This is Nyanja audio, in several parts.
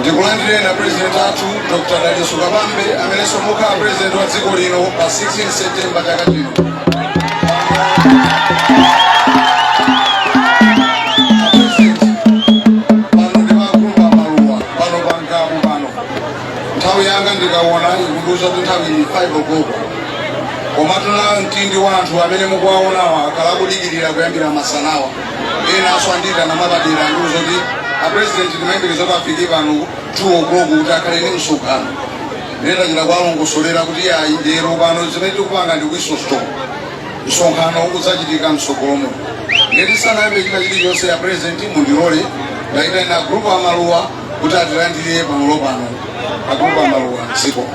ndikulandireni apresident athu dr dalitso kabambe amenenso mukhala president wa dziko lino pa 16 september chaka chino nthawi yanga ndikawona ikundiuza kuti nthawi ili 5 o'clock komatu na mtindi wa anthu amene mukuwaonawa akhala akudikirira kuyambira masanawa enanso andiitana mwapadera andiuza kuti apresident timayembekeza kuti afike pano 2 o'clock kuti akhale ndi msonkhano ndinachita kuwalongosolera kuti ayi lero pano zimene tikupanga ndi whistle stop msonkhano udzachitika mtsogolomo nde tisanayambe china chilichonse a president mundilole ndiitane a group amaluwa kuti atilandire pamalo pano a group amaluwa zikomo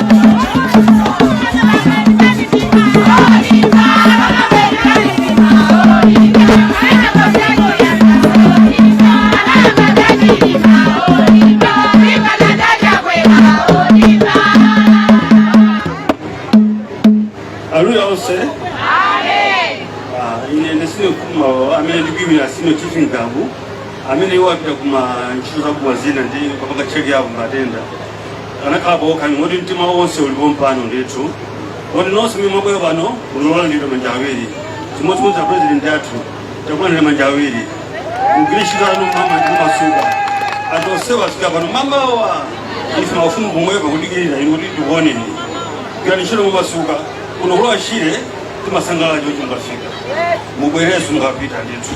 Haleluya onse. Amen. Ah, ine ndisine kuma amene ndikuimira Senior Chief Ngabu amene iwo apita kuma ntchito za kuma zina ndi kapanga check up matenda akanakhalapo kungoti mtima wonse uli pompano ndithu kuti nonse omwe mwabwera pano mwalandiridwa manja awiri chimodzimodzi apurezidenti athu takulandirani manja awiri mugwire ntchito yanu mama ndimasuka anthu onsewo afika pano mamawa ife mafumu pomwepo kudikirira inu kuti tikuoneni gwirani ntchito momasuka kuno ku lower shire timasangalala choti mukafika mubwerenso mukapita ndithu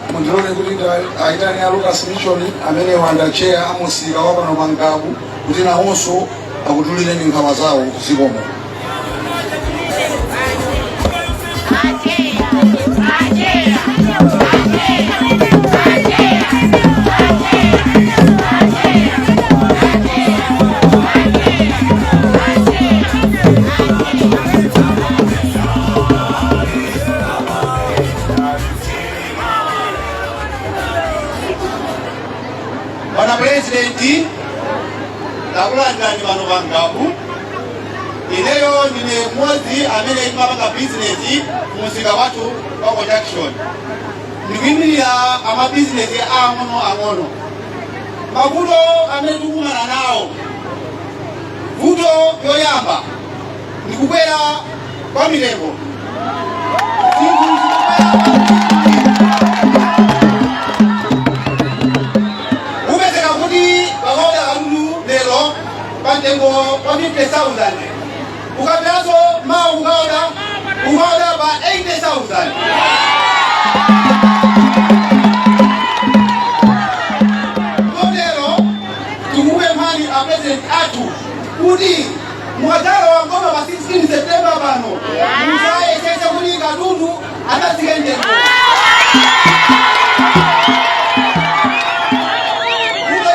mundilole kuti aitane a lucas mission amenewa ndi a tcheya amusika wa pano pa ngabu kuti nawonso akutulireni nkhawa zawo zikomo bwana pulezidenti takulandirani pano pa ngabu ineyo ndine mmodzi amene timapanga bizinesi mumsika wathu wa production ndikuyimirira amabizinesi aang'ono ang'ono mavuto amene tikukumana nawo vuto yoyamba ndi kukwera kwa mitengo zinthu kumapezeka kuti ukaoda katundu lero pa mtengo wa 50000 ukabweranso mawa ukaoda ukaoda pa 80000 kotero tikupemphani apresident athu kuti mukadzalowa m'boma pa 16 septemba pano mudzayesetse kuti katundu adzatsike mtengo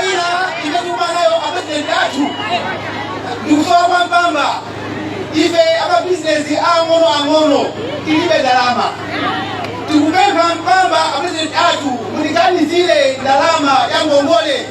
china ife tikuvutika nacho apresidenti athu ndikusowa kwa mpamba ife amabizinesi ang'ono ang'ono tilibe ndalama tikupempha mpamba apresidenti athu mutiganizire ndalama ya ngongole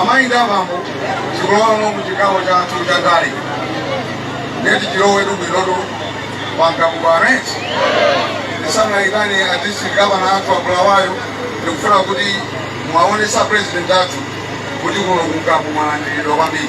amayi ndi abambo tikulowano mu chigawo chathu cha ndale ndeti tilowetu bwinotu program yathu ndisanaitane a district gavana athu akulawayo ndikufuna kuti mwaonetsa president athu kuti kuno kuno mwalandiridwa kwambiri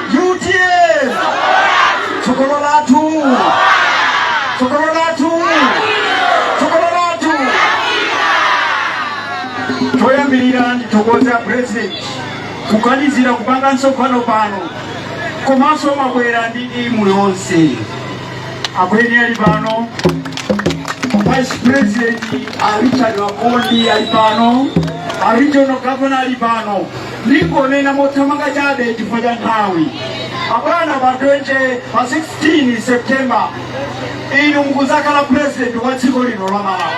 utm tsogolo lathu tsogolo lathu tsogolo lathu choyambirira ndithokoze a president kuganizira kupanga msonkhano pano komanso mwabwera ndi timu yonse akweni ali pano vice president a richard a akondi ali pano a regional governor ali pano Ndingonena mothamanga chabe chifukwa cha nthawi. Abwana pa 20 pa 16 September inu mukudzakhala president wa dziko lino la Malawi.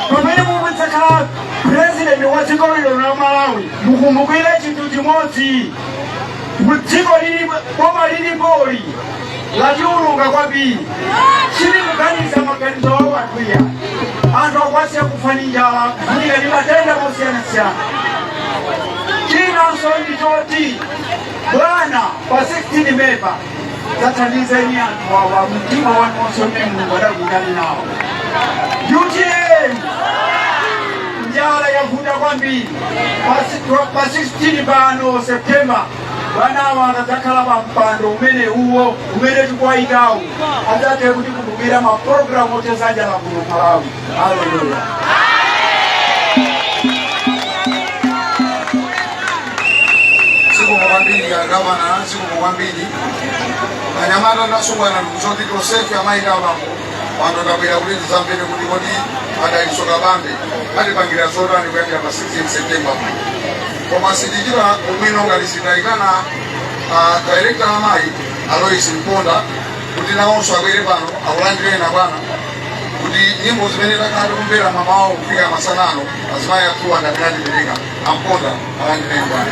Pamene mukudzakhala president wa dziko lino la Malawi mukumbukire chinthu chimodzi. Mu dziko lili boma lilipoli lachuluka kwambiri silikuganiza maganizo a wanthu iyayi anthu akuwasiya kufa ndi njala kuvutika ndi matenda osiyanasiyana chinanso ndi choti bwana pa 16 pompa dzathandizeni anthu awa mtima wanu wonse umene mulungu adakuyitanani nawo utm njala yavuta kwambiri pa si- pa 16 pano septemba bwanawa akadzakhala pa mpando umene uwo umene tikuwayikawo adzathe kutikumbukira mapulogalamu othetsa njala kuno malawi haleluya zikomo kwambiri agavana zikomo kwambiri anyamata ndi asungwana ndikuchoti tonsefe amayi ndi abambo pano ndabwera kuti ndizamvere kuti kodi adalitso kabambe atipangira zotani kuyambira pa 16 september koma sitichita ubwino ngati sitayitana dairekta wa amayi alois mponda kuti nawonso abwere pano akulandireni abwana kuti nyimbo zimene takhala tikumvera mamawa kufika masana ano azimayi athuwa ngati atipereka amponda alandireni abwana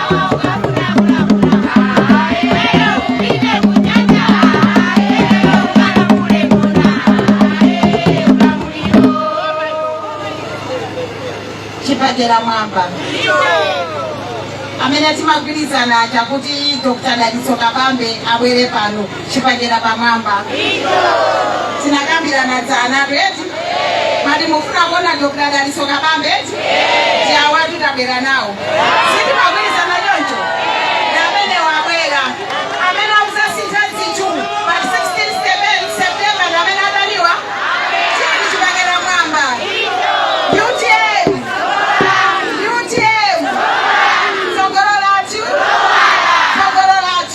chibakera mwamba amene timagwirizana chakuti dr dalitso kabambe abwere pano chibakera pamwamba tinakambirana dzana eti mati mufuna kuona dr dalitso kabambe eti ndi awatu tabwera nawo sitimagwirizana choncho ndi amene wabwera amene akuzasintha zinthu pa 16 september ndi amene adaliwa chinthu chibakera mwamba utm utm tsogolo lathu tsogolo lathu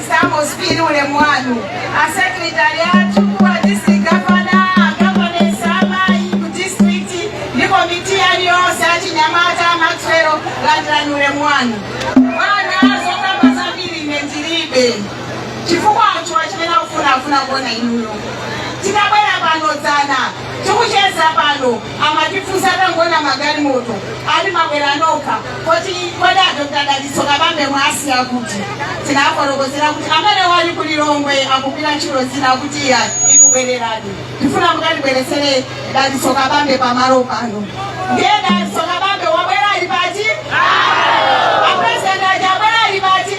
Amos Phiri ulemu wanu asekretari athu wa district gavana agavanesi amayi ku district ndi komiti yanu yonse achinyamata a Maxwell landirani ulemu wanu bwana zokamba zambiri ine ndilibe chifukwa anthuwa chimene akufuna akufuna kuona inuyo titabwera pano dzana tikucheza pano amatifunsa atangoona magalimoto ati mwabwera nokha kuti kodi adokta dalitso kabambe mwasiya kuti tinafotokozera kuti amenewa ali ku lilongwe akugwira ntchito zina akuti iyayi bwererani tifuna mukatibweretsere dalitso kabambe pamalo pano ndiye dalitso kabambe wabwera ali pati apresident aja abwera ali pati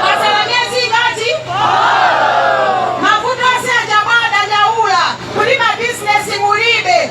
kwatsala miezi ingati mavuto onse aja mwadandaula kuti mabizinesi kulibe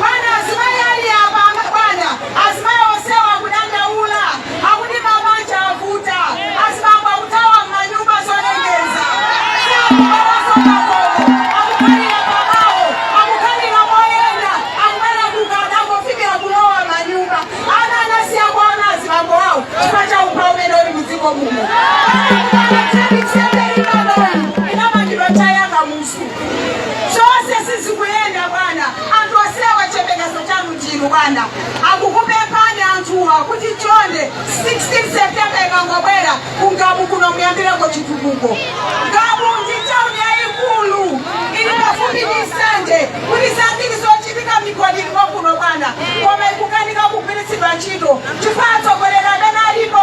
Bwana, azimayi ali apa, ama- bwana, azimayi onsewa akudandaula, akuti mabanja avuta, azibambo akuthawa m'manyumba zolengeza, sakukhalanso m'makomo, akukhalira pabawo, akukhalira moyenda, akubwera kutada, angofikira kulowa manyumba. Ana anasiya kuona azibambo awo chifukwa cha umphawi umene uli m'dziko muno. Bwana, Zonse sizikuyenda bwana, anthu asilawa chiyembekezo chanu ndinu bwana. Akukupemphani anthuwa kuti chonde 16 September ikangobwera ku Ngabu kuno muyambireko chitukuko. Ngabu ndi tauni yayikulu ili pafupi ndi Nsanje kuti zambiri zochitika migodi ilimo kuno bwana, koma ikukanika kugwiritsidwa ntchito chifukwa atsogoleri amene alipo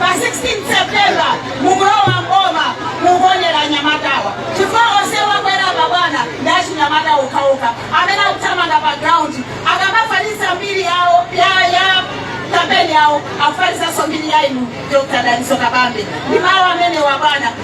Pa 16 September mukulowa mboma mukuonera anyamatawa chifukwa onsewa akwera apa bwana ndi achinyamata okhaokha amene akuthamanga pa ground akamafalitsa mbiri yawo ya ya kampeni yawo afalitsanso mbiri ya inu Dr. Dalitso Kabambe ndi mawu amenewa bwana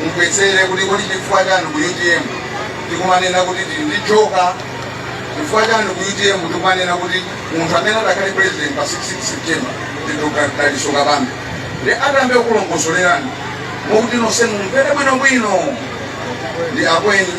mumvetsere kuti kodi chifukwa chani ku utm tikumanena kuti tili ndi joka chifukwa chani ku utm tikumanena kuti munthu amene adakhale president pa 16 september ndi dr dalitso kabambe ndi atambe kulongosolerani mokuti nonse mumvere bwinobwino ndi akweni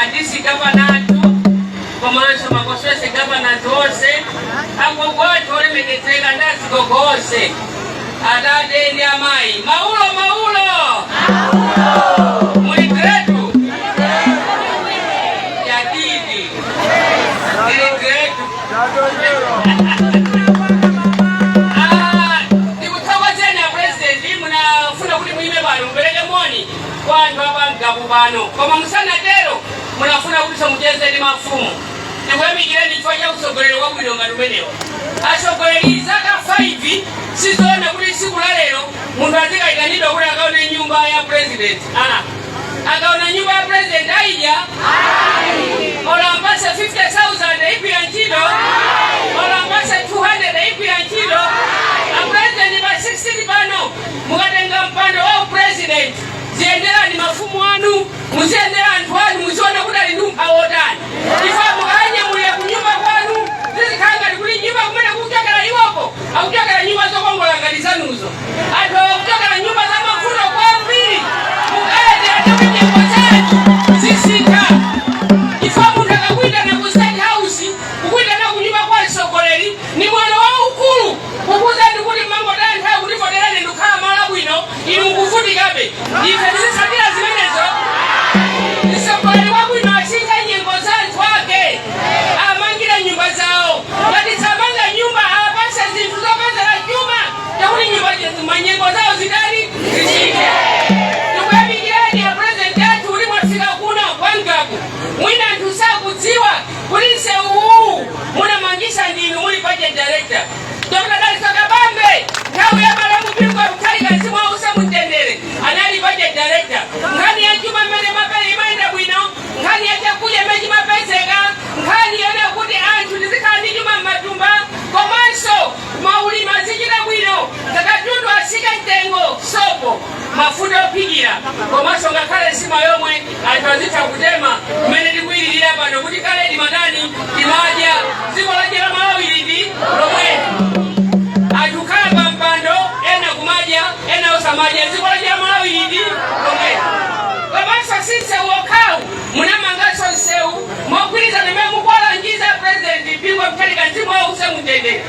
a district gavana athu komanso ma constituency gavana athu onse agogo athu olemekezeka ndi azigogo onse atate ndi amayi maulo maulo muli gretu yadidi ili gretu Ah, ndikuthokozeni a president munafuna kuti muime pano mupereke moni kwa anthu a pa Ngabu pano koma musanatero munafuna kuti mucheze ndi mafumu ndikuyamikireni chifukwa cha utsogoleri wabwino ngati umenewo atsogoleri zaka 5 sizoona kuti tsiku la lero munthu azikayitanidwa kuti akaone nyumba ya president ah. akaona nyumba ya president aija olo ampatse 50000 igwira ntchito olo ampatse 200 igwira ntchito apresident pa 16 pano mukatenga mpando wa upresident ziyenderani mafumu anu muziyendera anthu anu muziona kuti ali ndi umphawi wotani chifukwa mukanyamulira ku nyumba kwanu zizikhala ngati kuli nyumba kumene akuchokera iwoko akuchokera nyumba zokongola ngati zanuzo anthuwo akuchokera nyumba za mavuto kwambiri mukayendera anthu kuti nyengo zawo zisinthe chifukwa munthu akakuitana ku state house kukuitana ku nyumba kwa mtsogoleri Ni mwano waukulu kukuuzani kuti munangotaya nthawi kundivotera ine ndikukhala malo abwino inu mukuvutikabe ife tizitsatira zimenezo mtsogoleri wabwino asintha nyengo za anthu ake amangire nyumba zawo ngati samanga nyumba apatse zinthu zopezera chuma chakuti nyumba manyengo zawo zidali zisinthe tikuyamikirani a president athu kuti mwafika kuno kwa Ngabu mwina anthu sakudziwa Kuti nsewu uwu munamangisa ndinu muli budget director. Dr. Dalitso Kabambe nthawi ya malemu Bingu wa Mutharika mzimu wausa mumtendere anali budget director. Nkhani ya chuma mmene mapele imayenda bwino, nkhani ya chakudya mmene chimapezeka, nkhani yona kuti anthu tizikhala ndi chuma m'matumba komanso maulimi azichita bwino ngati katundu asike mtengo sopo. mafuta ophikira komanso ngakhale nsima yomwe anthu azitha kutema kumene tikuyilirira pano kuti kale timatani timadya dziko lache la malawi liti lomwe anthu kukhala pa mpando ena kumadya ena osamadya dziko lache la malawi liti lomwe komanso si msewu okhawu munamanganso msewu mogwirizana mmene mukuwalangiza president bingu mutharika mzimu wause mutendere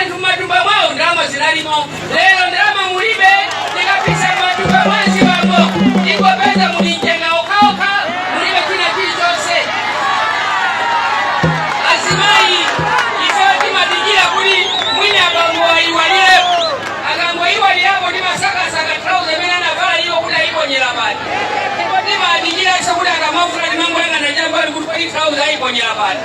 anthu m'matumba mwawo ndalama zinalimo lero ndalama mulibe tikapisa m'matumba mwa azibambo tingopeza muli mchenga okhaokha mulibe china chilichonse azimayi ifeyo timadikira kuti mwina abambo ayiwalirepo akangoyiwalirapo timasakasaka trauza imene anavala iyo kuti ayiponyera pati ndipo timadikiranso kuti akamavula timangoyang'ana chambali kuti kodi trauza ayiponyera pati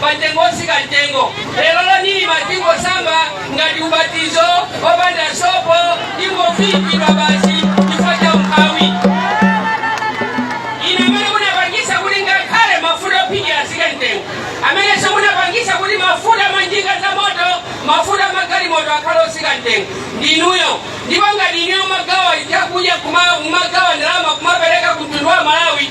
pamtengo osika mtengo lerolo nirma tingosamba ngati ubatizo opanda sopo tingoviikidwa basi chifukwa cha umphawi inu amene munapangisa kuti ngakhale mafuta ophikira asike mtengo amenenso munapangisa kuti mafuta manjinga za moto mafuta magalimoto akhale osika mtengo ndinuyo ndipo ngati ineyo kumagawa chakudya kumagawa ndalama kumapereka ku mtundu wa malawi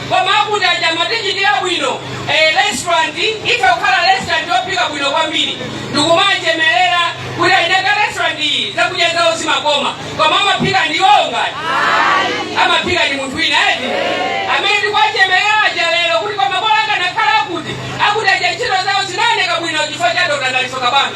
koma akuti aja amatichitira bwino eh, restaurant itha kukhala restaurant yophika bwino kwambiri ndikumachemerera kuti eni ake a restaurant iyi zakudya zawo zimakoma koma amaphika ndi iwowo ngati amaphika ndi munthu wina eti amene tikuwachemerera aja lero kuti koma bola akanakhala akuti akuti aja ntchito zawo zinaoneka bwino chifukwa cha dr dalitso kabambe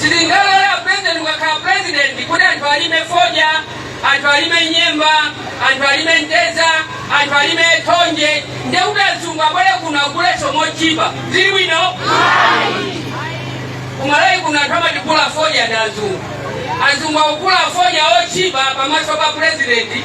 sindingalole apurezidenti ndikakhala purezidenti kuti anthu alime fodya anthu alime nyemba anthu alime mtedza anthu alime thonje nde kuti azungu abwere kuno aguleso mochipa zili bwino kumalawi kuno anthu amatigula fodya ndi azungu azungu akugula fodya ochipa pamaso pa purezidenti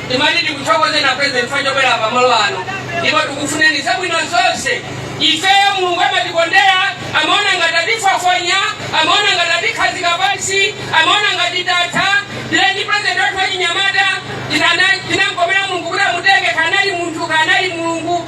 timati tikuthokozeni a president chifukwa chobwera pa malo ano ndipo tikufuneni zabwino zonse ifeyo mulungu amatikondera amaona ngati atifafonya amaona ngati atikhazika pansi amaona ngati tatha tinali ndi president wathu wachinyamata chinamkomera mulungu kuti amutenge kanali munthu kanali mulungu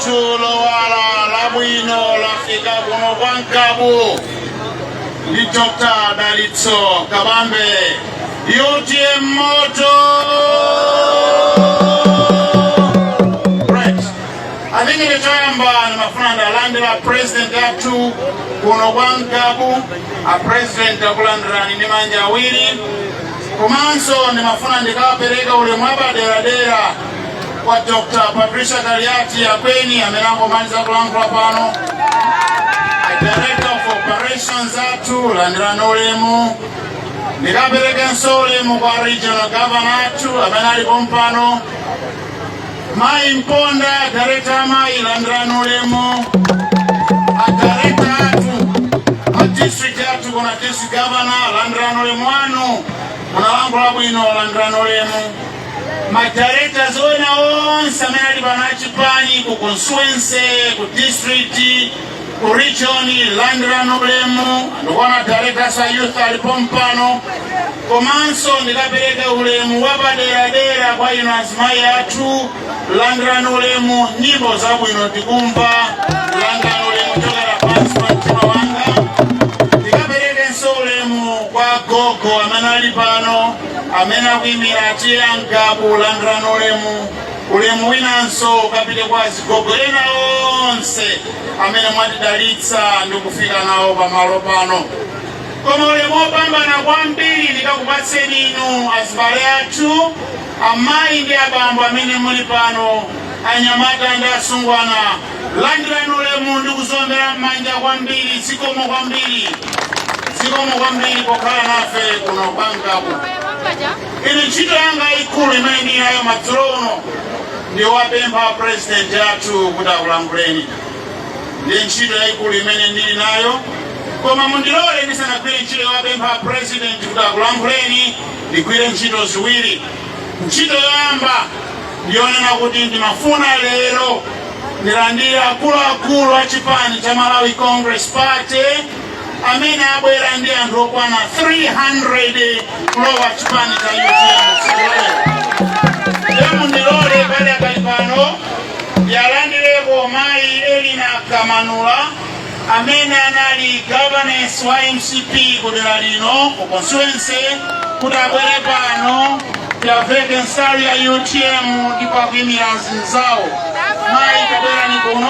Dzuwa lowala labwino lafika kuno kwa Ngabu ndi Dr. Dalitso Kabambe UTM moto Right. I think it is time ndimafuna ndiwalandire a President athu kuno kwa Ngabu, a President takulandirani ndi manja awiri, komanso ndimafuna ndikapereke ulemu wapaderadera, kwa Dr. Patricia Kaliati Akweni amene angomaliza kulankhula pano. Director of Operations athu landirani ulemu. Ndikaperekenso ulemu kwa Regional Governor athu amene ali pompano. Mayi Mponda, Director Amayi landirani ulemu. Ma Director athu, a District athu kuno District Governor landirani ulemu wanu. Munalankhula bwino landirani ulemu. madirectors ena onse amene ali pano achipani ku constituency ku district ku region landirani ulemu ndikuona madirectors a youth ali pompano komanso ndikapereke ulemu wapaderadera kwa inu azimayi athu landirani ulemu nyimbo zabwino tikumva landirani ulemu kuchokera pansi pa mtima wanga ndikaperekenso ulemu kwa gogo amene ali pano amene akuyimira T/A Ngabu landirani ulemu ulemu winanso ukapite kwa azigogo ena onse amene mwatidalitsa ndi kufika nawo pamalo pano koma ulemu wopambana kwambiri ndikakupatseni inu azibale athu amayi ndi abambo amene muli pano anyamata ndi asungwana Landirani ulemu ndikukuomberani m'manja kwambiri zikomo kwambiri zikomo kwambiri pokhala nafe kuno kwa ngabu ine ntchito yanga yayikulu imene ndili nayo madzulo ano ndi kuwapempha apurezidenti athu kuti akulankhuleni ndi ntchito yayikulu imene ndili nayo koma mundilole ndisanagwire ntchito yowapempha apurezidenti kuti akulankhuleni ndigwire ntchito ziwiri ntchito yoyamba ndiyonena kuti ndimafuna lero ndilandire akuluakulu a chipani cha malawi congress party amene abwera ndi anthu okwana 300 kulowa chipani cha utm mundilole pali akali pano ndiwalandireko mayi elina kamanula amene anali governor wa mcp ku dera lino ku constituency kuti abwere pano tiwaveke nsalu ya utm ndipo akuimira anzawo mayi tabwerani kuno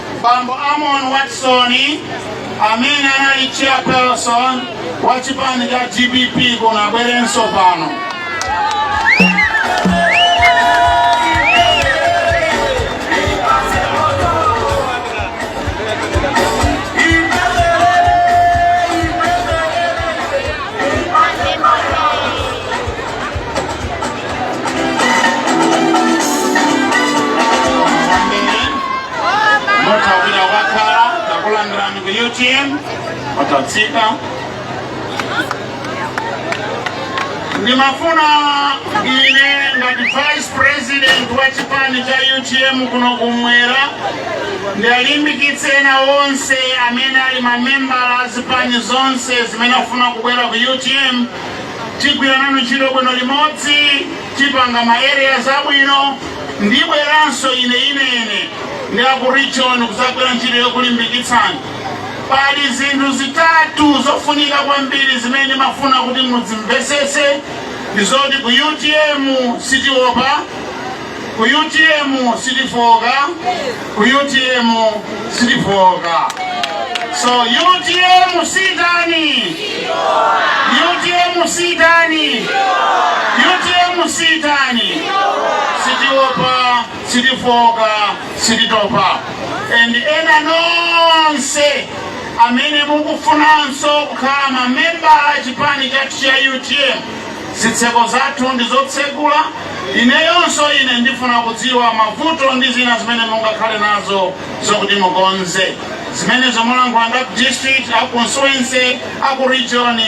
bambo amon watson amene anali chairperson wa chipani cha dpp kuno abwerenso pano mutawira wakhala takulandirani ku utm watatsika ndimafuna ine ngati vice president wa chipani cha utm kuno kumwera ndiwalimbikitse ena onse amene ali mamembala a zipani zonse zimene afuna kubwera ku utm tigwira nanu ntchito bwino limodzi tipanga ma areas abwino ndibweranso ine ine ndi aku region kuzagwira ntchito yokulimbikitsani pali zinthu zitatu zofunika kwambiri zimene ndimafuna kuti mudzimvesese ndizoti ku utm sitiopa ku utm sitifooka ku utm sitifooka so utm sitani utm sitani utm sitani sitiopa sitifooka sititopa and ena nonse amene mukufunanso kukhala mamembala a chipani chathu cha utm zitseko zathu ndi zotsegula. Ineyonso, ine ndifuna kudziwa mavuto ndi zina zimene mungakhale nazo zokuti mukonze. Zimenezo mulankhula ndi aku district, aku constituency, aku region,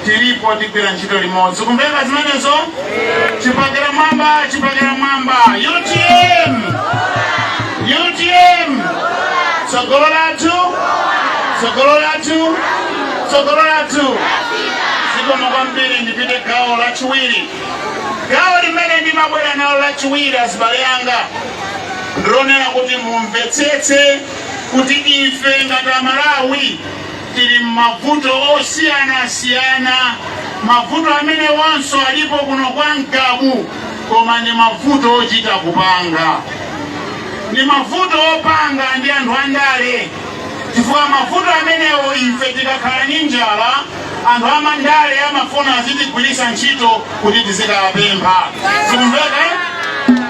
tilipo tigwira ntchito limodzi. Kumveka zimenezo? Chipakira mwamba, chipakira mwamba. UTM! UTM! Tsogolo lathu? Tsogolo lathu? tsogolo lathu zikomo kwambiri ndipite gawo lachiwiri gawo limene ndimabwera nalo lachiwiri azibale anga ndilonenera kuti mumvetsetse kuti ife ngati amalawi tili m'mavuto osiyanasiyana mavuto amene awonso alipo kuno kwa ngabu koma ndi mavuto ochita kupanga ndi mavuto opanga ndi anthu andale chifukwa mavuto amenewo ife tikakhala ndi njala anthu amandale amafuna azitigwiritsa ntchito kuti tizikawapempha zikumveka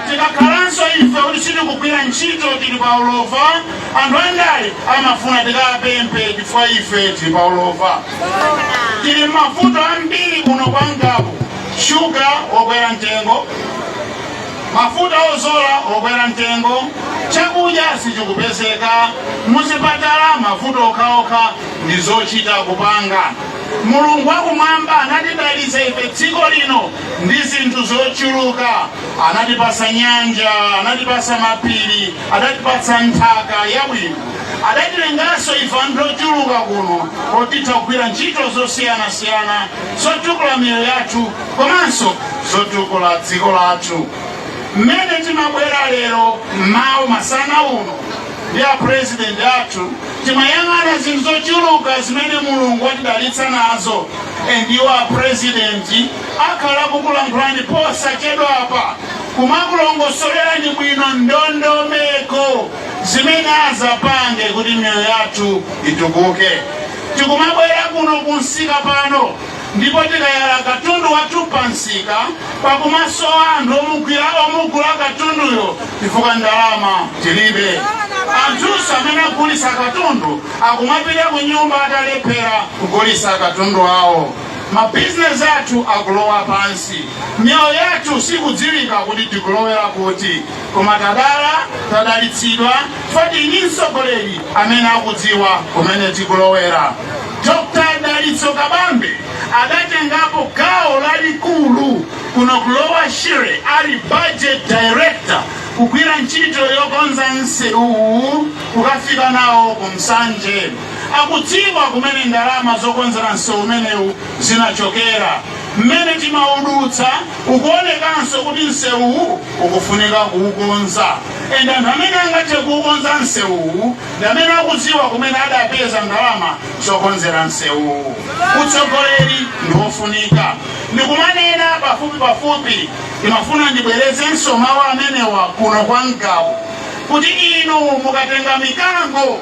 tikakhalanso ife kuti sitikugwira ntchito tili pa ulova anthu andale amafuna tikawapemphe chifukwa ife tili pa ulova tili m'mavuto ambiri kuno kwa Ngabu shuga wokwera mtengo Mafuta ozola okwera mtengo, chakudya sichikupezeka, muzipatala mavuto okhaokha ndi zochita kupanga. Mulungu wakumwamba anatidalitsa ife dziko lino ndi zinthu zochuluka. Anatipasa nyanja, anatipasa mapiri, adatipatsa nthaka yabwino. Adatilenganso ife anthu ochuluka kuno oti atha kugwira ntchito zosiyanasiyana zotukula miyoyo yathu. komanso zotukula dziko lathu. Mmene timabwera lero mmawa masana uno ndi a president athu timayang'ana zinthu zochuluka zimene mulungu watidalitsa nazo and iwo a president akhala kukulankhulani posachedwapa kumakulongosolerani bwino ndondomeko zimene azapange kuti miyoyo yathu itukuke tikumabwera kuno kumsika pano ndipo tikayala katundu wathu pa msika kukumasowa anthu omugwira omugula katunduyo chifukwa ndalama tilibe anthunso amene agulisa katundu akumapita ku nyumba atalephera kugulisa katundu awo mabizinesi athu akulowa pansi miyoyo yathu sikudziwika kuti tikulowera kuti koma tadala tadalitsidwa chifukwa tili ndi mtsogoleri amene akudziwa kumene tikulowera Dr. Dalitso Kabambe adatengapo gawo lalikulu kuno ku Lower Shire ali budget director kugwira ntchito yokonza nsewuwu kukafika nawo ku Nsanje akudziwa kumene ndalama zokonzera nsewu umenewu zinachokera mmene timaudutsa ukuonekanso kuti nsewuwu ukufunika kuukonza ende anthu amene angathe kuukonza nsewuwu ndi amene akudziwa kumene adapeza ndalama zokonzera nsewuwu. Utsogoleri ndi wofunika. Ndikumanena pafupipafupi, ndimafuna ndibwerezenso mawu amenewa kuno kwa Ngabu kuti inu mukatenga mikango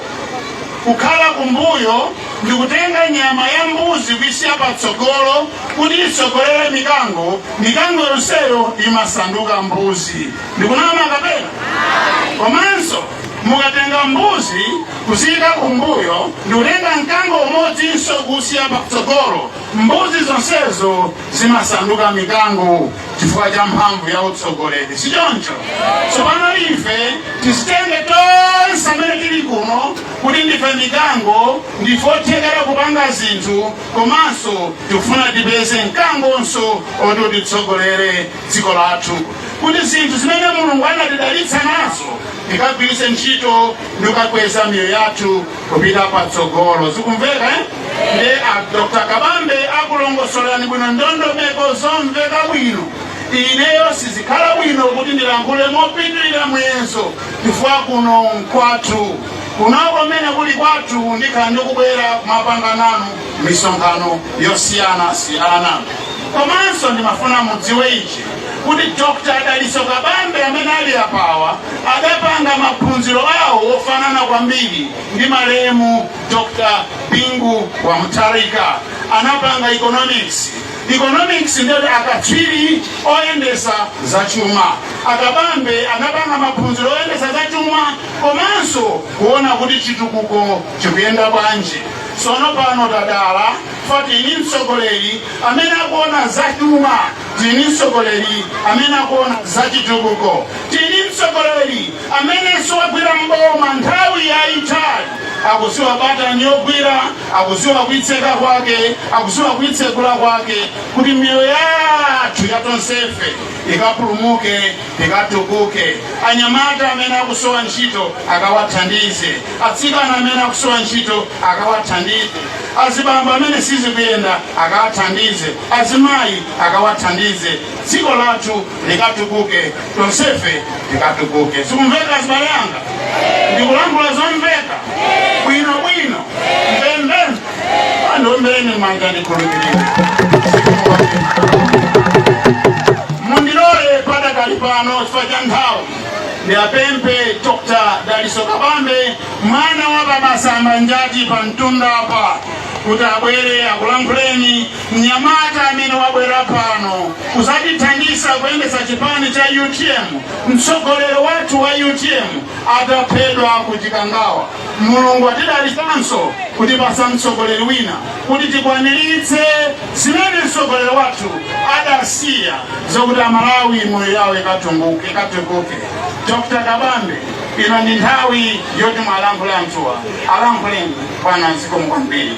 kukhala kumbuyo ndi kutenga nyama ya mbuzi kuisiya patsogolo kuti itsogolere mikango, mikango yonseyo imasanduka mbuzi. Ndikunama kapena? Komanso mukatenga mbuzi kuziyika kumbuyo ndikutenga mkango umodzinso kuusiya patsogolo mbuzi zonsezo zimasanduka mikango chifukwa cha mphamvu ya utsogoleri si choncho tsopano ife tizitenge tonse amene tili kuno kuti ndife mikango ndife othekera kupanga zinthu komanso tikufuna tipeze mkangonso oti utitsogolere dziko lathu kuti zinthu zimene mulungu anatidalitsa nazo tikagwiritse ntchito ndikukakweza miyoyo yathu kupita patsogolo zikumveka nde a dr kabambe akulongosolani bwino ndondomeko zomveka bwino ineyo sizikhala bwino kuti ndilankhule mopitirira muyezo chifukwa kuno nkwathu kunoko mmene kuli kwathu ndikhala ndikubwera kumapanga nanu misonkhano yosiyana siyana komanso ndimafuna mudziwe ichi kuti dr dalitso kabambe amene ali apawa adapanga maphunziro awo ofanana kwambiri ndi malemu dr bingu wa mutharika anapanga economics economics ndiyoti akatswiri oyendesa zachuma akabambe anapanga maphunziro oyendesa zachuma komanso kuona kuti chitukuko chikuyenda bwanji Tsono pano tadala chifukwa tili ndi mtsogoleri amene akuona za chuma, tili ndi mtsogoleri amene akuona za chitukuko, tili ndi mtsogoleri amene siwagwira mboma nthawi yaitali akuziwa batani yogwira, akuziwa kuitseka kwake, akuziwa kuitsegula kwake, kuti miyoyo yathu yatonsefe ikapulumuke. tikatukuke anyamata amene akusowa ntchito akawathandize atsikana amene akusowa ntchito akawathandize azibambo amene sizikuyenda akawathandize azimayi akawathandize dziko lathu likatukuke tonsefe tikatukuke zikumveka azibale anga ndikulankhula zomveka bwino bwino mvemvemve tandiombeni mmanja ndikhulupirire mundilole padakali pano chifukwa cha nthawi ndiwapemphe dr dalitso kabambe mwana wa abambo a njati pa mtunda apa kuti abwere akulankhuleni mnyamata amene wabwera pano kuzatithandiza kuyendesa chipani cha utm mtsogoleri wathu wa utm ataphedwa ku chikangawa Mulungu watidalitsanso kutipatsa mtsogoleri wina kuti tikwaniritse zimene mtsogoleri wathu adasiya zokuti Amalawi miyoyo yawo ikatunguke ikatukuke. Dr. Kabambe, ino ndi nthawi yoti muwalankhule anthuwa alankhuleni bwana zikomo kwambiri.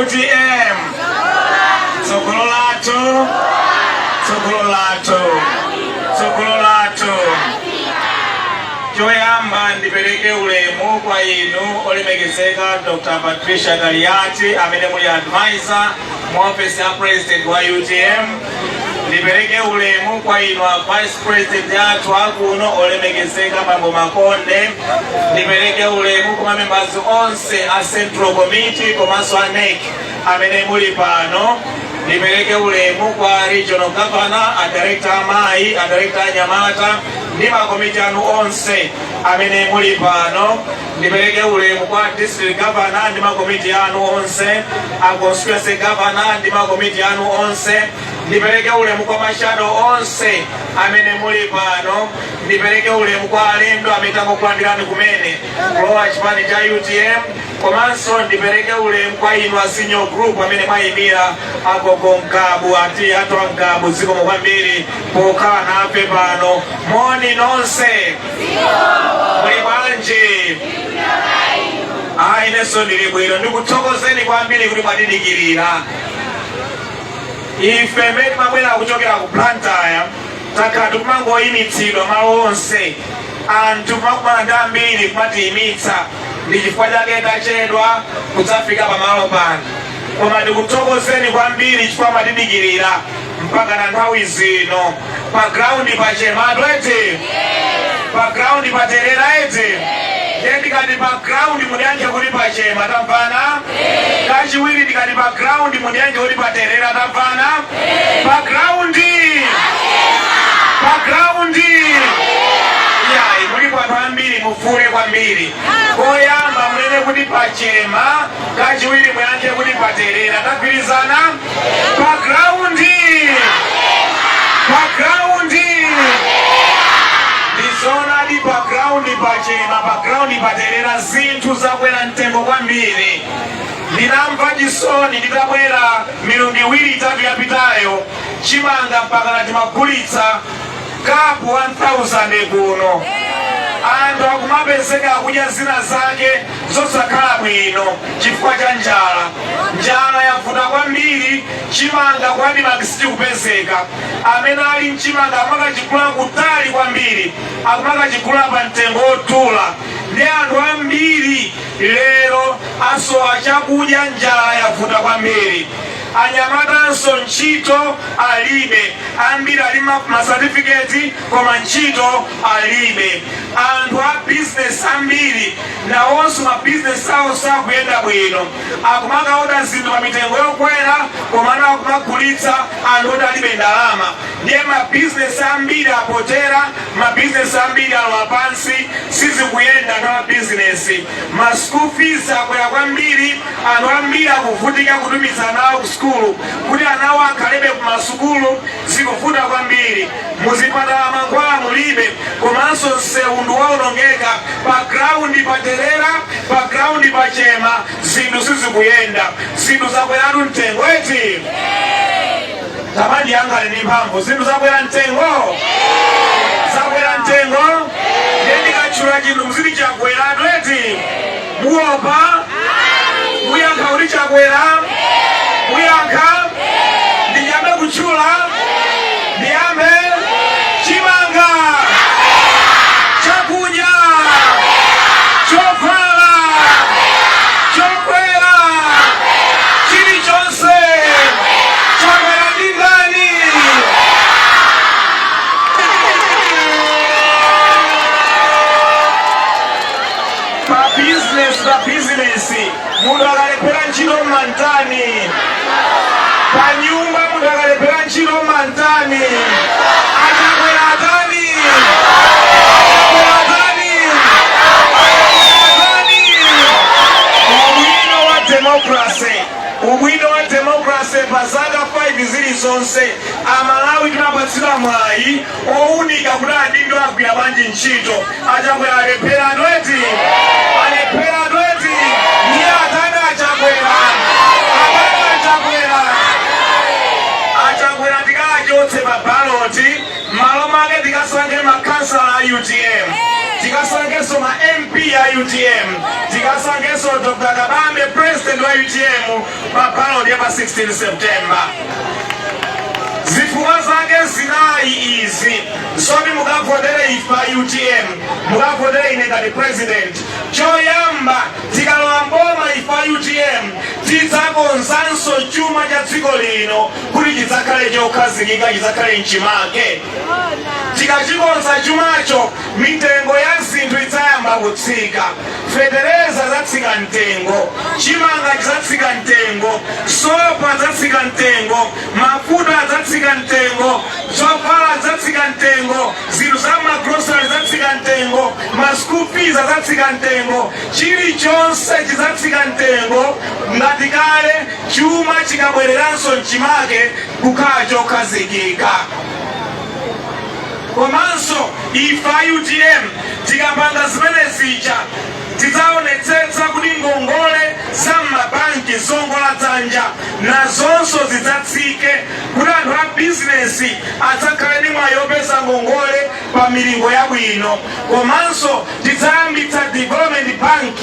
utm tsogolo lathu tsogolo lathu tsogolo lathu choyamba ndipereke ulemu kwa inu olemekezeka dr patricia kaliati amene muli advisor mu ofesi ya president wa utm ndipereke ulemu kwa inu a vice president athu akuno olemekezeka bambo makonde ndipereke ulemu kwa mamembala onse a central committee komanso a nec amene muli pano ndipereke ulemu kwa regional governor a director amayi a director anyamata ndi makomiti anu onse amene muli pano ndipereke ulemu kwa district governor ndi makomiti anu onse a constituency governor ndi makomiti anu onse ndipereke ulemu kwa mashado onse amene muli pano ndipereke ulemu kwa alendo amene tangokulandirani kumene kulowa chipani cha utm komanso ndipereke ulemu kwa inu a senior group amene mwayimira agogo mkabu ati atwa mkabu zikomo kwambiri pokhala nafe pano moni nonse muli bwanji ayi inenso ndili bwino ndikuthokozeni kwambiri kuti mwatidikirira ife mmene timabwera kuchokera ku Blantyre takhala tikumangoyimitsidwa malo onse anthu kumakumana ndi ambiri kumatiyimitsa ndi chifukwa chake tachedwa kudzafika pamalo pano koma ndikuthokozeni kwambiri chifukwa mwatidikirira mpaka na nthawi zino pa ground pa chematu eti pa ground pa terera eti ndiye ndikati pa ground mundiyankhe kuti pa chema tamvana kachiwiri ndikati pa ground mundiyankhe kuti pa terera tamvana pa ground pa ground ayi mulipo anthu ambiri mufuule kwambiri koyamba munene kuti pachema kachiwiri muyankhe kuti paterera tagwirizana pa graundi pa graundi ndizoonadi pa graundi pachema pa graundi paterera zinthu zakwera mtengo kwambiri ndinamva chisoni nditabwera milungu iwiri itatu yapitayo chimanga mpaka natimagulitsa kapu 1000 kuno anthu akumapezeka akudya zina zake zosakhala bwino chifukwa cha njala. Njala yavuta kwambiri chimanga ku Admarc sichikupezeka. Amene ali ndi chimanga akumakachigula kutali kwambiri, akumakachigula pa mtengo wodula ndi anthu ambiri lero asowa chakudya, njala yavuta kwambiri. Anyamatanso ntchito alibe, ambiri ali ma certificate koma ntchito alibe. Anthu a business ambiri nawonso mabizinesi awo sakuyenda bwino akumakaoda zinthu pa mitengo yokwera komano akumagulitsa anthu oti alibe ndalama ndiye mabizinesi ambiri apotera mabizinesi ambiri alowa pansi sizikuyenda na mabizinesi ma school fees akwera kwambiri anthu ambiri akuvutika kutumiza ana awo ku sukulu kuti ana awo akhalebe ku masukulu zikuvuta kwambiri muzipatala mankhwala mulibe komanso msewu ndi waonongeka pa ground pa terera pa ground pa chema zinthu sizikuyenda zinthu zakweratu mtengo eti tamandi yanga ali ndi mphamvu zinthu zakwera mtengo zakwera mtengo ndendikatchula chinthu muziti chakweratu eti mukuopa muyankha kuti chakwera muyankha ndiyambe kutchula ndiyambe chimanga chakudya chovala chakwera chilichonse chakwera ndi ndani Pa business pa business munthu akalephera ntchito mmantani? Pa nyumba munthu akalephera ntchito mmantani? A Chakwera atani? A Chakwera atani? A Chakwera atani? Ubwino wa democracy, ubwino wa democracy pa zaka 5 zilizonse Amalawi timapatsidwa mwayi owunika kuti adindo agwira bwanji ntchito achakwera alepheratu eti alepheratu eti ndiye atani achakwera atani achakwera achakwera tikachotse pa baloti malo mwake tikasankhe makhansala a utm tikasankhenso ma mp a utm tikasankhenso dr kabambe president wa utm pa ballot ya pa 16 september zifukwa zake zinayi izi zoti mukavotere ife a utm mukavotere ine ngati president choyamba tikalowa mboma ife a utm tidzakonzanso chuma cha dziko lino kuti chidzakhale chokhazikika chidzakhale mchimake tikachikonza chumacho Mitengo ya zinthu idzayamba kutsika. Fetereza adzatsika mtengo, chimanga chidzatsika mtengo, sopo adzatsika mtengo, mafuta adzatsika mtengo, zovala zidzatsika mtengo, zinthu za magrosari zidzatsika mtengo, ma school fees adzatsika mtengo, chilichonse chidzatsika mtengo. Ngati kale chuma chikabwereranso mchimake kukhala chokhazikika. Komanso ife a utm tikapanga zimene zija tidzaonetsetsa kuti ngongole za m'mabanki zowongola dzanja nazonso zidzatsike kuti anthu a bizinesi adzakhale ndi mwayi opeza ngongole pa milingo yabwino. Komanso tidzayambitsa development bank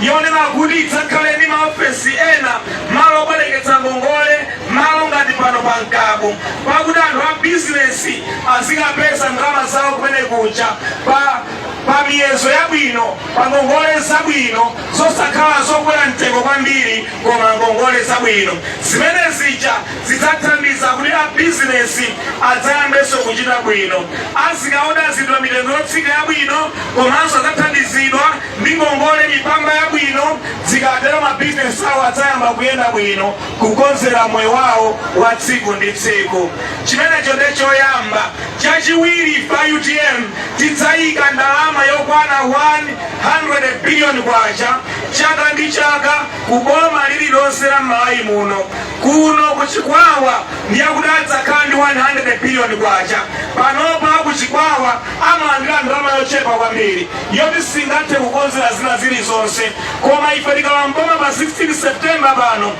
yonena kuti idzakhale ndi maofesi ena, malo obwereketsa ngongole, malo ngati pano pa mkabu pakuti anthu a bizinesi azikapeza ndalama zawo kumene kuja pa miyezo yabwino pa ngongole zabwino zosakhala zokwera mtengo kwambiri koma ngongole zabwino zimene zija zidzathandiza kuti a bizinesi adzayambenso kuchita bwino azikaoda zinthu pa mitengo yotsika yabwino komanso adzathandizidwa ndi ngongole mipamba yabwino zikatero mabizinesi awo adzayamba kuyenda bwino kukonzera moyo wawo wa tsiku ndi tsiku chimenecho nde choyamba chachiwiri pa utm tidzayika ndalama yokwana 100 biliyoni kwacha chaka ndi chaka ku boma lililonse la malawi muno kuno ku chikwawa ndiye kuti adzakhala ndi 100 biliyoni kwacha panopa ku chikwawa amalandira ndalama yochepa kwambiri yoti singathe kukonzera zina zilizonse koma ife tikalowa m'boma pa 16 september pano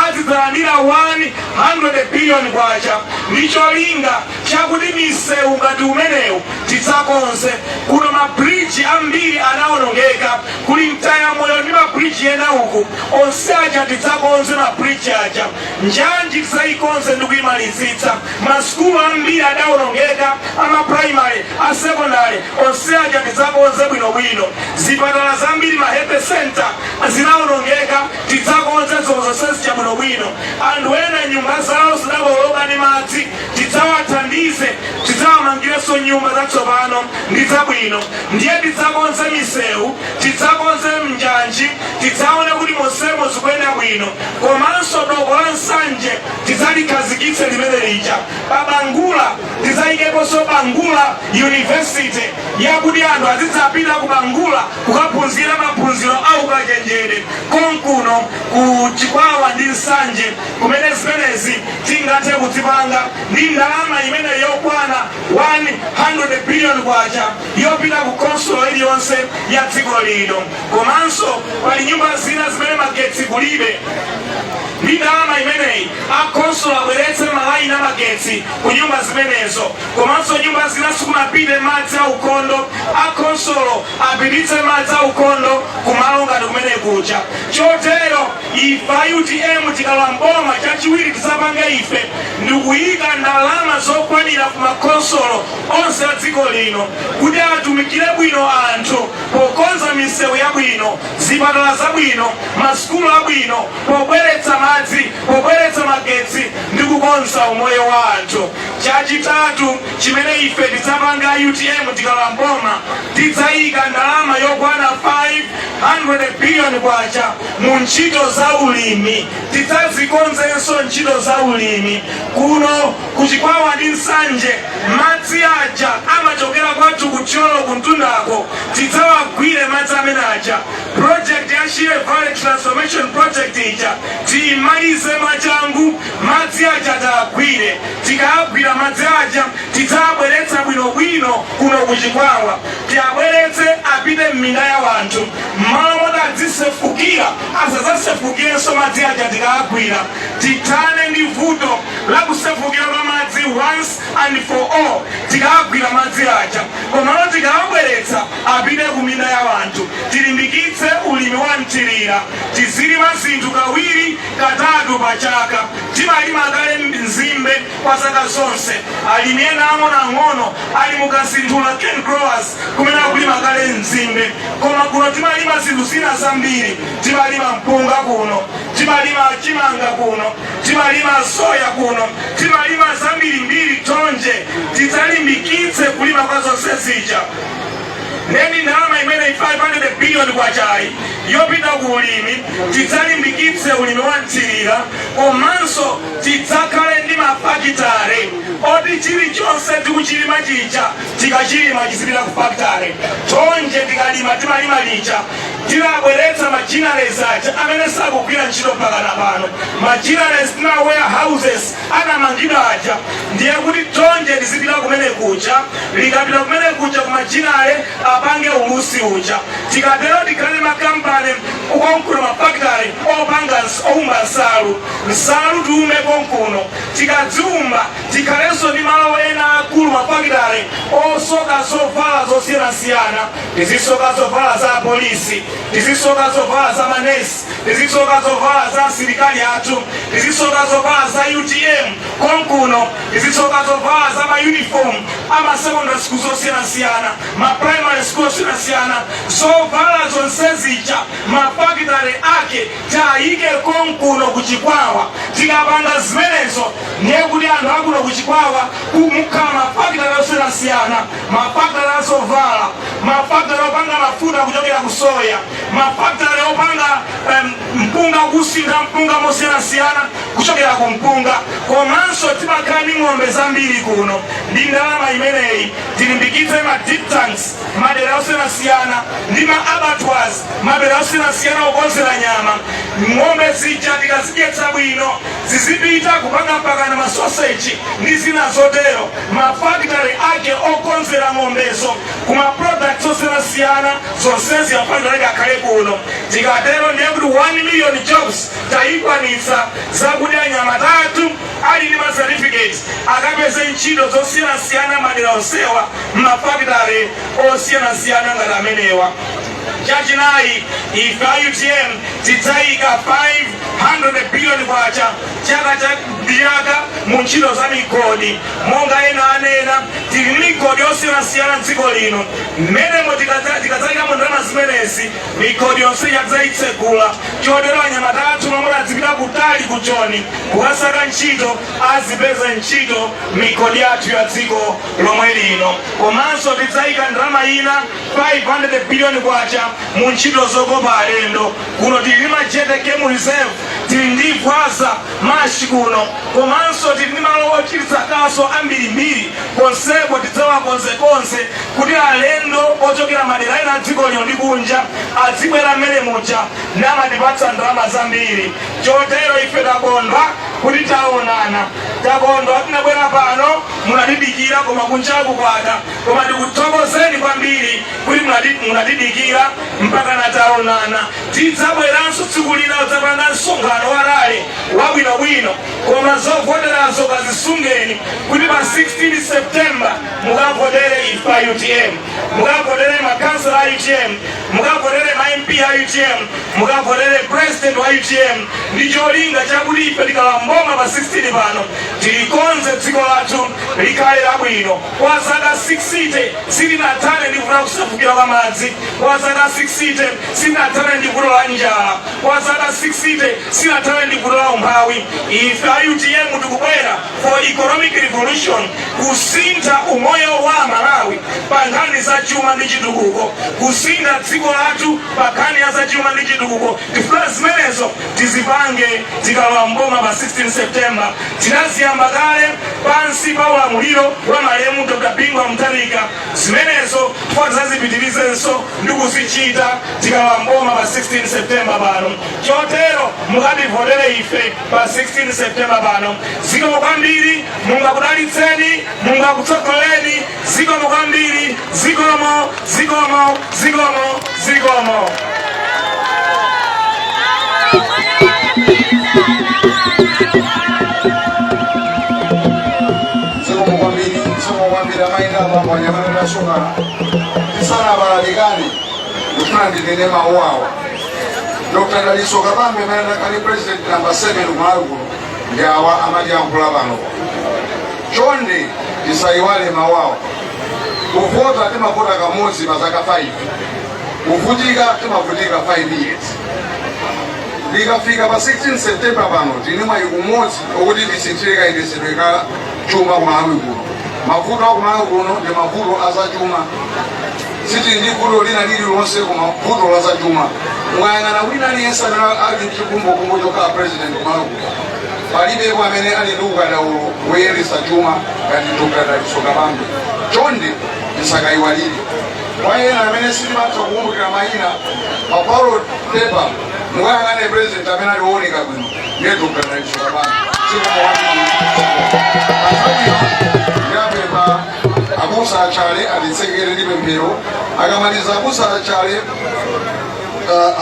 azidzalandira 100 billion kwacha ndi cholinga chakuti misewu ngati umenewu tidzakonze kuno mabridge ambiri anawonongeka kuli mtayamoyo ndi mabridge ena uku onse aja tidzakonze mabridge aja Njanji tidzayikonze ndi kuyimalizitsa. Ma sukulu ambiri adawonongeka, a ma primary, a secondary, onse aja tidzakonze bwinobwino. Zipatala zambiri, ma health centre zinawonongeka, tidzakonze zo zonse zija bwinobwino. Anthu ena nyumba zawo zidakokoloka ndi madzi, tidzawathandize, tidzawamangirenso nyumba zatsopano ndi zabwino. Ndiye tidzakonze misewu, tidzakonze njanji, tidzaone kuti monsemo zikuyenda bwino. komanso doko la nsanje tidzalikhazikitse limene lija pa bangula tidzayikeponso bangula university yakuti anthu azidzapita ku bangula kukaphunzira maphunziro a ukachenjere konkuno ku chikwawa ndi nsanje kumene zimenezi tingathe kudzipanga ndi ndalama imene yokwana 100 billion kwacha yopita ku khonsolo iliyonse ya dziko lino komanso pali nyumba zina zimene magetsi kulibe ndi ndalama imeneyi akhonsolo abweretse malaini amagetsi ku nyumba zimenezo komanso nyumba zina sikunapite madzi a ukhondo akhonsolo apititse madzi a ukhondo kumalo ngati kumene kuja chotero ife a utm tikalowa mboma chachiwiri tidzapange ife ndikuyika ndalama zokwanira ku makhonsolo onse a dziko lino kuti atumikire bwino anthu pokonza misewu yabwino, zipatala zabwino, masukulu abwino, pobweretsa madzi, pobweretsa magetsi ndi kukonza umoyo wa anthu. Chachitatu chimene ife tidzapanga a utm tikalowa m'boma, tidzayika ndalama yokwana 500 billion kwacha mu ntchito za ulimi. Tidzazikonzenso ntchito za ulimi kuno ku Chikwawa ndi Nsanje. madzi aja amachokera kwathu ku Thyolo kumtundako tidzawagwire madzi amene aja project ya Shire Valley Transformation Project ija tiyimalize mwachangu madzi aja tawagwire tikawagwira madzi aja tidzawabweretsa bwinobwino kuno ku Chikwawa tiwabweretse apite m'minda ya wanthu mmalo moti adzisefukira asadzasefukirenso madzi aja tikawagwira tithane ndi vuto la kusefukira kwa madzi once and for all tikawagwira madzi aja komano tikawabweretsa apite ku minda ya wanthu tilimbikitse ulimi wa mthirira tizilima zinthu kawiri katatu pa chaka timalima kale nzimbe kwa zaka zonse alimi ena ang'onoang'ono ali mu kasinthula cane growers kumene akulima kale nzimbe koma kuno timalima zinthu zina zambiri timalima mpunga kuno timalima chimanga kuno timalima soya kuno timalima zambirimbiri tonje tidzalimbikitse kulima kwa zonse zija ndi ndalama imene 500 biliyoni kwachayi yopita ku ulimi tidzalimbikitse ulimi wa mthirira komanso tidzakhale ndi mafakitare oti chilichonse tikuchilima chija tikachilima chizipita ku fakitare tonje tikalima timalima lija tinabweretsa machineries aja amene sakugwira ntchito mpakana pano machineries ma warehouses anamangidwa aja ndiye kuti tonje lizipita kumene kuja likapita kumene kuja ku machinery apange ulusi uja tikatero tikhale makampani konkuno mafakitale opanga ns- oumba nsalu nsalu tiumbe konkuno tikadziumba tikhalenso ndi malo ena akulu mafakitale osoka zovala zosiyanasiyana tizisoka zovala za apolisi tizisoka zovala za manesi tizisoka zovala za asilikali athu tizisoka zovala za utm konkuno tizisoka zovala za mauniform amasecondary school zosiyanasiyana maprimary school osiyanasiyana zovala zonse zija mafakitale ake tayike konkuno kuchikwawa tikapanga zimenezo ndiye kuti anthu akuno kuchikwawa kumakhala mafakitale osiyanasiyana mafakitale a zovala mafakitale opanga mafuta kuchokera ku soya mafakitale opanga em, mpunga kusintha mpunga mosiyanasiyana kuchokera ku mpunga komanso timakhala ndi ng'ombe zambiri kuno ndi ndalama imeneyi tilimbikitse ma dip tanks madera osiyanasiyana ndi ma abattoirs madera osiyanasiyana okonzera nyama ng'ombe zija tikazidyetsa bwino zizipita kupanga mpakana masoseji ndi zina zotero mafakitale ake okonzera ng'ombezo ku maproducts osiyanasiyana zonsezi afunika akhale kuno tikatero ndiye kuti 1 million jobs tayikwanitsa zakuti anyamata athu ali ndi macertificate akapeze ntchito zosiyanasiyana madera onsewa m'mafakitale osiyanasiyana ngati amenewa Chachinayi, ife a utm tidzayika K500 billion chaka ndi chaka mu ntchito za migodi. Monga ena anena, tili ndi migodi yosiyanasiyana m'dziko lino. M'menemo tikadzayikamo ndalama zimenezi, migodi yonse ija tidzayitsegula. Chotero anyamata athu omwe amati adzipita kutali ku Joni kukasaka ntchito, azipeze ntchito m'migodi yathu ya dziko lomwe lino. Komanso tidzayika ndalama ina K500 billion mu ntchito zokopa alendo, kuno tili ndi Majete Game Reserve, tili ndi Gwaza marsh kuno komanso tili ndi malo ochititsa kaso ambirimbiri ponsepo tidzawakonze konse kuti alendo ochokera madera ena a dziko lino ndi kunja azibwera mmene muja namatipatsa ndalama zambiri chotero ife takondwa kuti taonana takondwa tinabwera pano munatidikira koma kunjaku kwada koma tikuthokozeni kwambiri kuti munatidikira mpaka nataonana tidzabweranso tsiku lina kudzapanga msonkhano wa rally wabwinobwino koma zovoterazo kazisungeni kuti pa 16 septemba mukavotere ife a utm mukavotere makansela a utm mukavotere ma mp a utm mukavotere president wa utm ndi cholinga chakuti ife tikalowa mboma pa 16 pano tilikonze dziko lathu likhale labwino Kwa zaka 60 silinathane ndi vuto la kusefukira kwa madzi. Kwa zaka 60 silinathane ndi vuto la njala. Kwa zaka 60 silinathane ndi vuto la umphawi. Ife a UTM tikubwera for economic revolution, kusintha umoyo wa Malawi pa nkhani za chuma ndi chitukuko, kusintha dziko lathu pa nkhani ya zachuma ndi chitukuko. Tifuna zimenezo tizipange tikalowa mboma pa 16 september tinaziyamba kale pansi pa ulamuliro wa malemu dr bingu wa mutharika zimenezo chifukwa tidzazipitirizenso ndi kuzichita tikalowa mboma pa 16 september pano chotero mukativotere ife pa 16 september pano zikomo kwambiri mungu akudalitseni mungu akutsogoleni zikomo kwambiri Zikomo, zikomo, zikomo, zikomo. Zikomo kwambiri, zikomo kwambiri amayi ndi abambo anyamata tashoka. Tisanabalalikane, ndikufuna ndinene mawu awa. Dr. Dalitso Kabambe amene akhale president number 7 kumalawi kuno ndi awa amatiyankhula pano. Chonde tisayiwale mawu awa. kuvota timavota kamodzi pa zaka 5 kuvutika timavutika 5 years likafika pa 16 september pano tili ndi mwayi umodzi okuti tisinthire kayendetsedwe ka chuma kumalawi kuno mavuto akumalawi kuno ndi mavuto azachuma sitili ndi vuto lina lililonse koma vuto la zachuma mukayang'ana wina aliyense amene ali ndi chikumbokumbo chokhala president kumalawi kuno Palibepo amene ali ndi ukadaulo woyendetsa chuma ngati Dr. Dalitso Kabambe. Chonde tisakayiwale. Kwa ena amene sitimatha kukumbukira mayina pa ballot paper mukayang'ane president amene ali wooneka bwino ndiye Dr. Dalitso Kabambe. Ndiwapempha abusa achale atitsekere ndi pemphero akamaliza abusa achale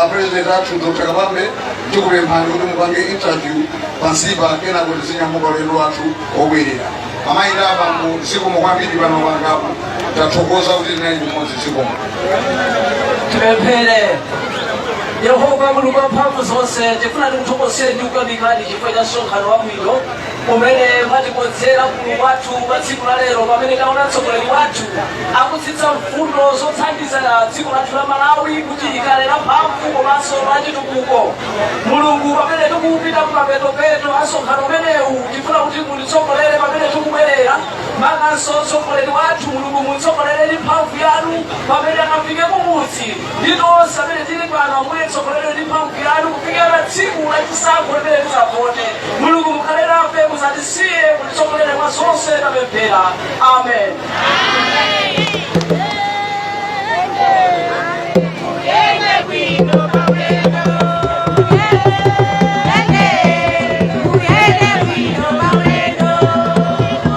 a president athu dr kabambe tikupemphani kuti mupange interview pansipa kenako tizinyamuka ulendo wathu obwerera amayi ndi abambo zikomo kwambiri paokongamo tathokoza kuti tinali limodzi zikomo tipemphere yehova mulungu wamphamvu zonse tifuna tikuthokozeni ndi kukuyamikani chifukwa cha msonkhano wabwino umene mwatikonzera mulungu wathu pa tsiku la lero pamene taona mtsogoleri wathu akutsitsa mfundo zothandiza dziko lathu la malawi kuti likhale la mphamvu komanso la chitukuko mulungu pamene tikupita kumapetopeto a msonkhano umenewu tifuna kuti mutitsogolere pamene tikubwerera makanso mtsogoleri wathu mulungu mumutsogolere ndi mphamvu yanu pamene akafike kumudzi ndi tonse amene tili pano ambuye titsogoleredwe ndi mphamvu yanu kufikira tsiku la chisankho limene tizavote mulungu mukhale nafe musatisiye mutitsogolere mwa zonse tapemphera amen